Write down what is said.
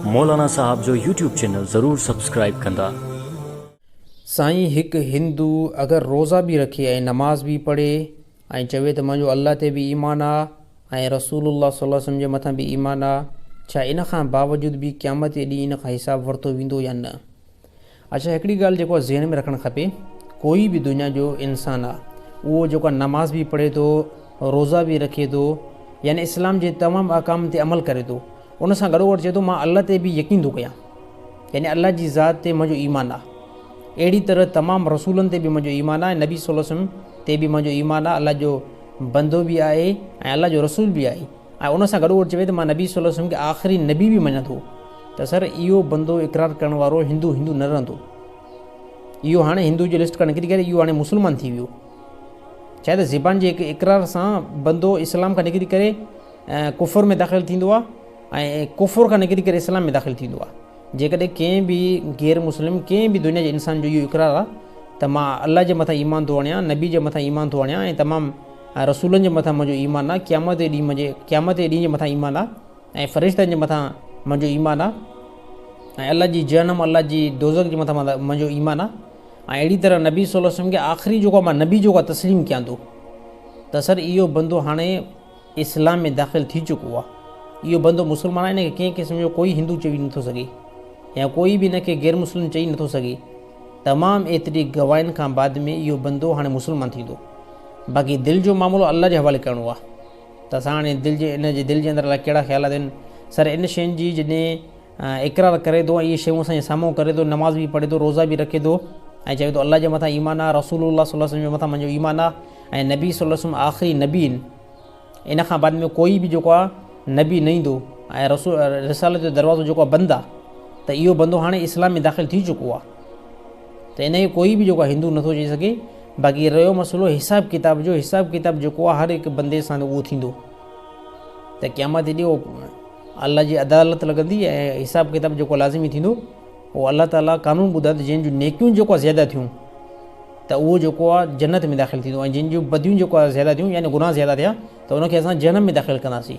مولانا صاحب جو YouTube channel ضرور سبسڪرائيب ڪندا. سائين هڪ هندو اگر روزا به رکي ۽ نماز به پڙهي ۽ چوي ته منهنجو الله تي به ايمان آ ۽ رسول الله صلي الله عليه وسلم جي مٿان به ايمان آ ڇا ان کان باوجود به قيامت جي ڏينهن ان کان حساب ورتو ويندو يا نه؟ اڇا هڪڙي ڳالهه جيڪو ذهن ۾ رکڻ کپي ڪوئي به دنيا جو انسان آ اهو جيڪو نماز به پڙهي ٿو روزا به رکي ٿو يعني اسلام جي تمام احڪام تي عمل ڪري ٿو ان سان گڏو گڏ چي ٿو مان الله تي به يقين ٿو ڪيان يعني الله جي ذات تي منهنجو ايمان آ اهڙي طرح تمام رسولن تي به منهنجو ايمان آ نبي صلي وسلم تي به منهنجو ايمان آ الله جو بندو به آهي ۽ الله جو رسول به آهي ۽ ان سان گڏوگڏ چوي ته مان نبي صلي الله عليه وسلم کي آخري نبي به مڃان ٿو ته سر اهو بندو اقرار ڪرڻ وارو هندو هندو نه رهندو اهو هاڻي هندو جي لسٽ کان نڪري ڪري اهو هاڻي مسلمان ٿي ويو ڇا ته زبان جي هڪ اقرار سان بندو اسلام کان نڪري ڪري ڪفر ۾ داخل ٿيندو آهي ۽ ڪفر کان نڪري ڪري اسلام ۾ داخل ٿيندو آهي جيڪڏهن ڪنهن به غير مسلم ڪنهن به دنيا جي انسان جو اهو اقرار آهي ته مان الله جي مٿان ايمان ٿو آڻيان نبي جي مٿان ايمان ٿو آڻيان ۽ تمام ۽ رسولن جي مٿان منهنجو ايمان آ، قيامت جي ڏينهن منهنجي قيامت جي ڏينهن جي مٿان ايمان آ، ۽ فرشتن جي مٿان منهنجو ايمان آ، ۽ الله جي جهنم الله جي دوزخ جي مٿان منهنجو ايمان آ، ۽ اهڙي طرح نبي صلي الله عليه وسلم کي آخري جيڪو مان نبي جيڪو آ تسليم ڪيان ٿو ته سر اهو بندو هاڻي اسلام ۾ داخل ٿي چڪو آ، اهو بندو مسلمان آ، ان کي ڪنهن قسم جو ڪوئي هندو چوي نٿو سگهي يا ڪوئي به ان کي غيرمسلم چئي نٿو سگهي. تمام ايتري گواهين کان بعد ۾ اهو بندو هاڻي مسلمان ٿيندو. باقي دل جو معاملو الله جي حوالي ڪرڻو آهي ته اسان هاڻي دل جي ان جي دل جي اندر الائي ڪهڙا خيالات آهن. سر ان شين جي جڏهن اقرار ڪري ٿو ۽ اهي شيون اسان جي سامهون ڪري ٿو نماز به پڙهي ٿو روزا به رکي ٿو ۽ چوي ٿو الله جي مٿان ايمان آهي رسول الله صلي الله عليه وسلم جي مٿان منهنجو ايمان آهي ۽ نبي صلي الله عليه وسلم آخري نبي آهن ان کان بعد ۾ ڪوئي به جيڪو آ نبي نه ايندو ۽ رسول رسالت جو دروازو جيڪو آ بند آ ته اهو بندو هاڻي اسلام ۾ داخل ٿي چڪو آ ته ان کي ڪوئي به جيڪو آ هندو نٿو چئي سگهي باقي رهيو مسئلو حساب ڪتاب جو حساب ڪتاب جيڪو آ هر هڪ بندي سان اهو ٿيندو ته قيامت جي ڏينهن الله جي عدالت لڳندي ۽ حساب ڪتاب جيڪو لازمي ٿيندو پوء الله تعالي قانون ٻڌائي ته جنهن جون نيڪيون جيڪو زياده ٿيون ته اهو جيڪو آ جنت ۾ داخل ٿيندو ۽ جن جون بديون جيڪو آ زياده ٿيون يعني گناهه زياده ٿيا ته ان کي اسان جهنم ۾ داخل ڪنداسين.